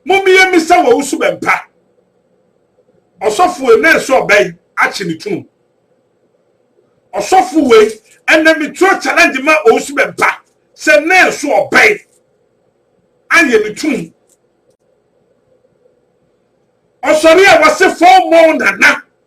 Mommeyɛ mmisa wɔ wo suban pa. Ɔsɔfo ene nso ɔba yi akye ne tunu. Ɔsɔfo wei ɛnɛ metuo challenge ma ɔwo suban pa sɛ ne nso ɔba yi ayɛ ne tunu. Ɔsɔre a wɔse fɔmmɔ wo nana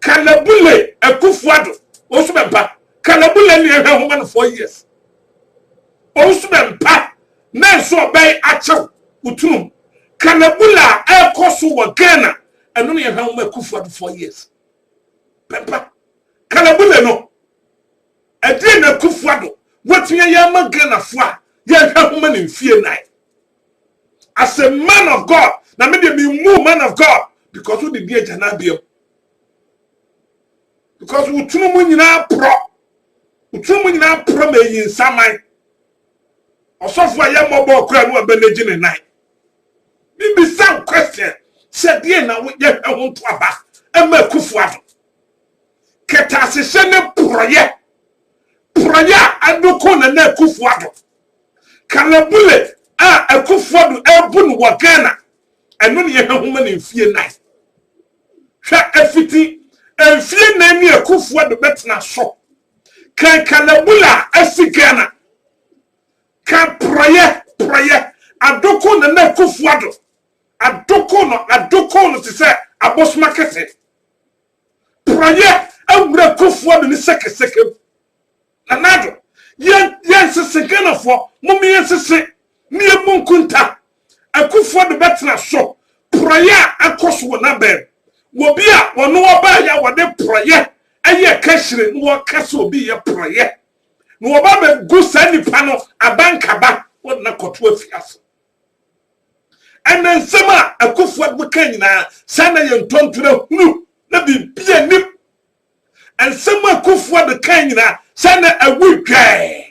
Kalabule Akufuado ɔnso bɛmpa Kalabule ne ɛhwɛ homa no four years ɔnso bɛmpa na nso ɔbɛn akyɛw wotunum Kalabule a ɛkɔ so wɔ Ghana ɛno ne ɛhwɛ homa Akufuado four years bɛmpa Kalabule no ɛdeɛ na Akufuado wɔtumi ayɛ ama Ghana fo a yɛhwɛ homa no mfie nan as a man of god na me deɛ memu man of god because wode di agya no abiam because wo tunu mu nyinaa porɔ wo tunu mu nyinaa porɔ ma ɛyi nsaman ɔsɔfo a yɛmmɔbɔ kora no abɛnagyi ne nan mebisa wo question sɛ deɛ na woyɛ hwɛ ho ntoaba ɛma akufo ado kɛtɛ ahyehyɛ ne porɔyɛ Porɔeɛ a ɛno ko Nana Akuffo Addo. Kalabule a Akuffo Addo rebu no wɔ Ghana, ɛno na yɛha ho ma no mfie nan. Hwɛ ɛfiti mfie nan ni Akuffo Addo bɛtena so. Kan kalabule a asi Ghana. Kan porɔeɛ, porɔeɛ. Addo ko Nana Akuffo Addo. Addo ko no, addo ko no te sɛ abosoma kɛse. Porɔeɛ awura Kofoɔ de ne sɛkɛsɛkɛ mu. Nana Addo, yɛn, yɛn sese Ghanafoɔ, mom yɛn sese ne yɛn mu nkunta. Akufoɔ de bɛtena so. Porɔeɛ a akɔ so wɔ n'abɛn. Wɔ bi a wɔne ɔbaeɛ a wɔde porɔeɛ ɛyɛ kahyire na wɔka sɛ obi yɛ porɔeɛ. Na wɔba bɛgu saa nipa no abankaba wɔde no akɔto afiase. Ɛnna nsɛm a Akufo-Addo kae nyinaa, saa na yɛn ntɔntena hunu, na biribiara nnim. Nsɛm a Akufo-Addo kae nyinaa, saa na awu dwɛɛ.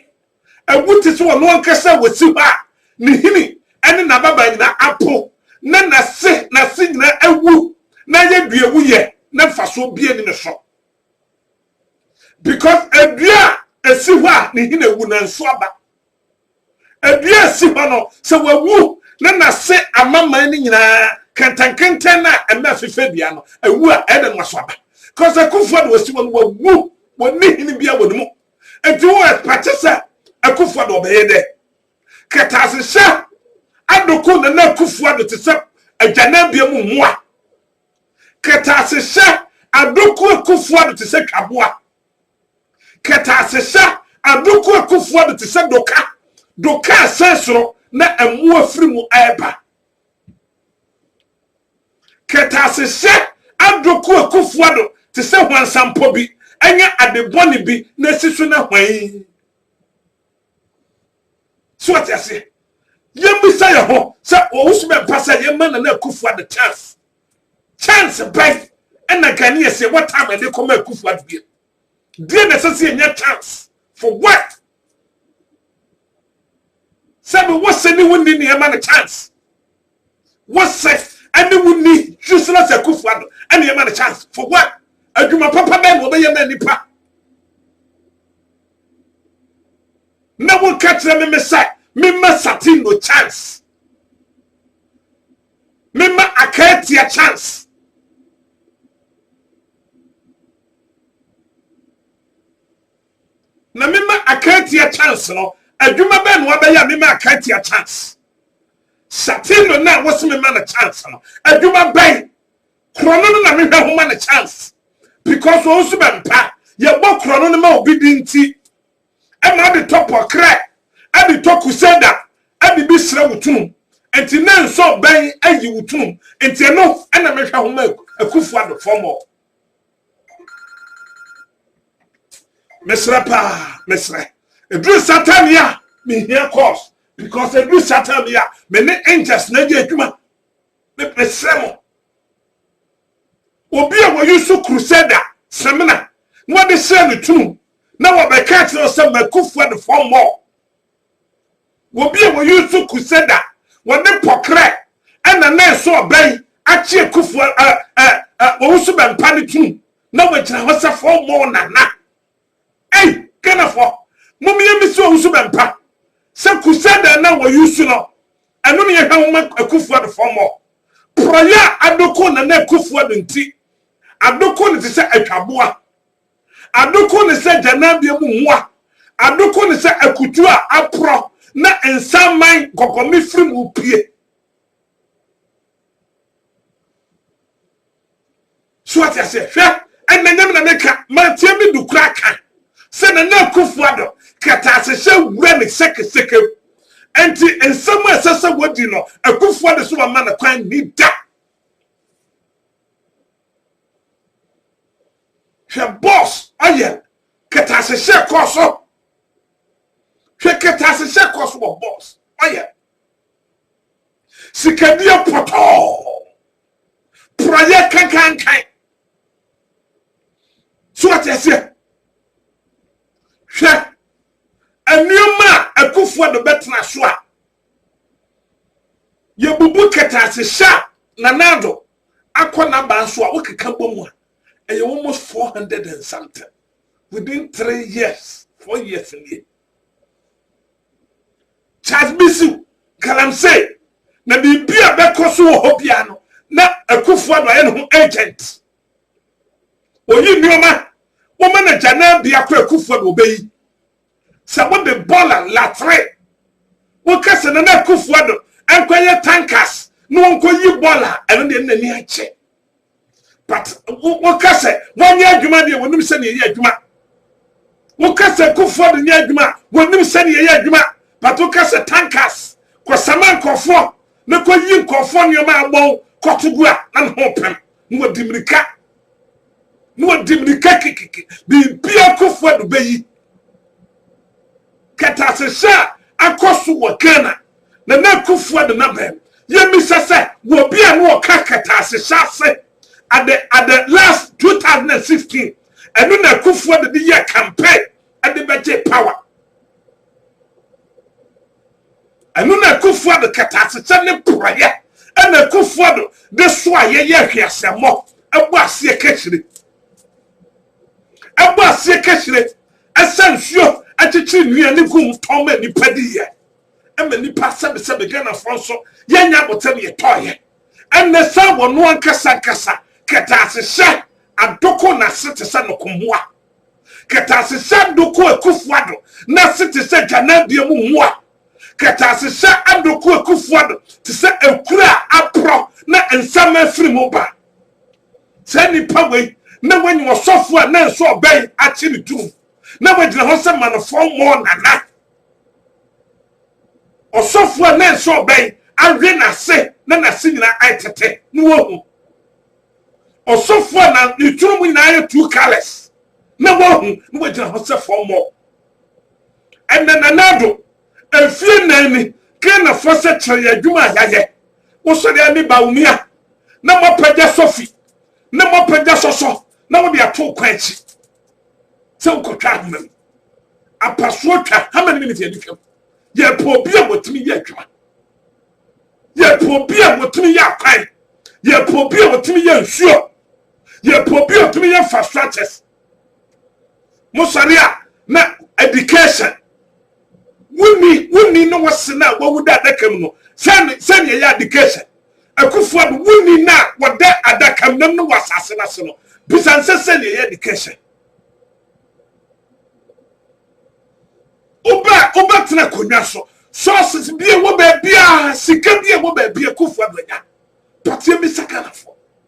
Awu te sɛ ɔno ankasa a wasi hɔ a ne hini ne n'ababaa nyinaa apo, na n'ase n'ase nyinaa awu, na ayɛ duawuyɛ, na mfasoɔ biara nni ne so. Because adua a ɛsi hɔ a ne hini awu, nanso aba. Dua a ɛsi hɔ no, sɛ wawu na n'ase ama mman no nyinaa, kɛntɛnkɛntɛn no a ɛma ɛfefɛ dua no, awu a, ɛyɛ dɛn na waso aba? Because akufoɔ de wɔsi hɔ no, wawu, wɔnni hene biara wɔ ne mu. Enti wo ɛpate sɛ akufoɔ de ɔbɛyɛ dɛ? Kɛtaasehyɛ adoko Nana Akufoɔ de te sɛ adwanabea mu mmoa. Kɛtaasehyɛ adoko Akufoɔ de te sɛ twaboa. Kɛtɛasehyɛ Adoko Akufo-Addo te sɛ doka, doka a ɛsɛn soro na mmoa firi mu reba. Kɛtɛasehyɛ Adoko Akufo-Addo te sɛ hwansampɔ bi, ɛnyɛ ade bɔne bi na asi so na hwan. So ɔte aseɛ? Yɛmmisa yɛn ho sɛ ɔwɔ so bɛmpa sɛ yɛma Nana Akufo-Addo chance. Chance bɛn na Ghanaians yɛwɔ time a yɛde kɔma Akufo Addo bio? Deɛ na ɛsɛ sɛ yɛnya chance for what? Sɛ me wɔ sɛ ne wo nni nneɛma no chance. Wɔ sɛ ɛne wo nni useless Akufo Addo nneɛma no chance for what? Adwuma papa bɛn na wɔbɛyɛ ma nipa? Na wɔka kyerɛ me me sɛ memma Sati no chance. Mema Akatia chance. Na mema Akatia chance no. Adwuma bɛn na wabɛyɛ a mema Akatia chance? Shatino na wɔsi mema no chance no. Adwuma bɛn? Korɔ no no na mehwɛ ho ma no chance. Because wɔn nso bɛmpa. Yɛbɔ korɔ no no ma obi di nti. ɛma de tɔ pɔkrɛ, ɛde tɔ kuseda, ɛde bi srɛ wo tunum. Nti na nso bɛn ayi wo tunum. Nti ɛno ɛna mehwɛ ho ma Akufo Addo fɔmɔ. Mesrɛ paa, mesrɛ. Eduru satan yi a, mehia course. Because eduru satan bi a, me ne angels na ɛgye adwuma. Mesrɛ mo. Obi a wɔyi so Crusader samina na wɔde hyɛɛ ne tunum na wɔbɛka akyerɛ wo sɛ Makufoɔ and four more. Obi a wɔyi so Crusader wɔde pɔkrɛ ɛna na ɛso ɔbɛn akye akufoɔ ɛ ɛ ɛ wɔwusu bɛmpa ne tunum na wɔgyina hɔ sɛ four more nana. Ei Ghanafoɔ mom yɛ misi owusu bɛmpa sɛ crusader na wɔ use no ɛno na yɛhwɛ moma Akuffo Addo foɔ mɔ prɔyɛ a Addo ko Nana Akuffo Addo nti Addo ko no te sɛ atwaboa Addo ko no sɛ gyanabea mu mmoa Addo ko no sɛ akutuo a aprɔ na nsa man nkɔkɔme firi mu pue. so ɔte aseɛ hwɛ ɛnna nyame na meka manteɛ me du kora ka sɛ na na akufo adɔ kataase hyɛ wura ne sɛkesɛkɛ mu ɛnti nsɛm a ɛsɛ sɛ wɔdi no akufo ade so wɔma no kwan ni da hwɛ bɔs ɔyɛ kataase hyɛ kɔɔ so hwɛ kataase hyɛ kɔɔ so wɔ bɔs ɔyɛ Sikadie pɔtɔɔ. Porɔyɛ kankankan. So ate aseɛ? Hwɛ nneɛma a akufoɔ de bɛtena so a yɛbubu kɛtase hyɛ a Nana Addo akɔ n'aba nso a wokeka bɔ mu a ɛyɛ almost four hundred and something within three years four years nie. Charles Misiw, Galamsey, na biribi a bɛkɔ so wɔ hɔ biara no, na Akufo-Addo ayɛ ne ho agent. Oyi nneɛma, woma no gyanaa biako Akufo-Addo obeyi. Sɛ wode bɔla, latre, woka sɛ Nana Akufo-Addo nkɔyɛ tankas na wɔnkɔyi bɔla a, ɛno deɛ ne n'ani agye. but woka sɛ wɔnyɛ adwuma deɛ wɔnim sɛdeɛ ɛyɛ adwuma woka sɛ kofoɔ de nyɛ adwuma a wɔnim sɛdeɛ ɛyɛ adwuma but woka sɛ tankers kɔsama nkɔfoɔ na kɔyi nkɔfoɔ nneɛma a wɔn kɔto gu a na ne ho pem na wɔdi mmirika na wɔdi mmirika kikiki biribia kofoɔ de bɛyi Kɛtɛasehyɛ a akɔ so wɔ Ghana, Nana Akuffua de no aba mu. Yɛmmisa sɛ, wɔ obi a na ɔka kɛtɛasehyɛ ase at the at the last 2016, ɛno na Akuffua de de yɛɛ campaign de bɛgyee power. Ɛno na Akuffua de kɛtɛasehyɛ ne porɔeɛ ɛna Akuffua do de soaeɛ yɛ hweaseammɔ ɛbɔ aseɛ kakyire. ɛbɔ aseɛ kahyire ɛsa nsuo ɛkyekyere nua ne gu mu tɔn ma nnipa di yɛ ɛma nnipa sɛbesɛbe Ghanafoɔ nso yɛnyɛ abotam yɛ tɔ yɛ ɛnɛ saa wɔ no ankasa ankasa kɛtaase hyɛ adoko na se te sɛ noko mmoa kɛtaase hyɛ adoko akufuado na se te sɛ gyanabea mu mmoa. Kɛtɛasehyɛ adoko Akufo-Addo te sɛ akuru a aporɔ na nsaama afiri mu ba. Saa nnipa wei na wɔanya ɔsɔfo a na nso ɔbɛn akye ne turom na wagyina hɔ sɛ Manofɔn Mɔɔ Nana. Ɔsɔfo a na nso ɔbɛn awe n'ase na n'ase nyinaa ayɛ tete na wahu. Ɔsɔfo a na ne turom nyinaa ayɛ two colors na wahu na wagyina hɔ sɛ Fɔn Mɔɔ. Ɛnnɛ, Nana Addo, mfeɛ nnan ni, Ghanafoɔ sɛ kyerɛ yɛn adwuma a yɛayɛ. Wosɔre ara ne Bawumia na moapagya Sofi na moapagya Sɔsɔ na wode ato kwan akyi sɛ wokɔtwa ahoma mu. Apasoɔ twa, how many minutes yɛde twam? Yɛpɛ obi a wɔtumi yɛ adwuma. Yɛpɛ obi a wɔtumi yɛ akwan. Yɛpɛ obi a wɔtumi yɛ nsuo. Yɛpɛ obi a wɔtumi yɛ infrastructures. mo sɔre a na education wonni wonni na wɔse na wɔwu da adaka mu no sɛne sɛne ɛyɛ education akufo ado wonni na wɔda adaka mu nam no wɔ asase no ase no bisa nsɛ sɛne ɛyɛ education wobɛ wobɛtena akonnwa so sources bi a ɛwɔ baabi a sika bi a ɛwɔ baabi akufo ado anya pɔteɛ bi sa ghanafoɔ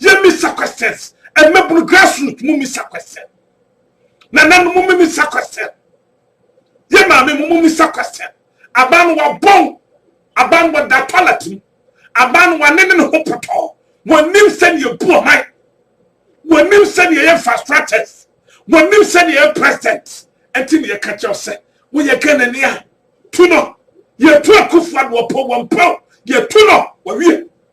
yɛ misa questions ɛmɛbunu grassroot mu misa question nananom mu misa question yɛ maame mu misa question aban no wabɔn aban no wada toilet mu aban no wane ne ne ho pɔtɔɔ wɔnim sɛdeɛ ɛbu ɔman wɔnim sɛdeɛ ɛyɛ infrastructures wɔnim sɛdeɛ ɛyɛ president ɛnti ne yɛka kyɛw sɛ woyɛ ghanani a tu no yɛtu akufoɔ adoɔpɔ wɔmpɛw yɛtu no wɔwie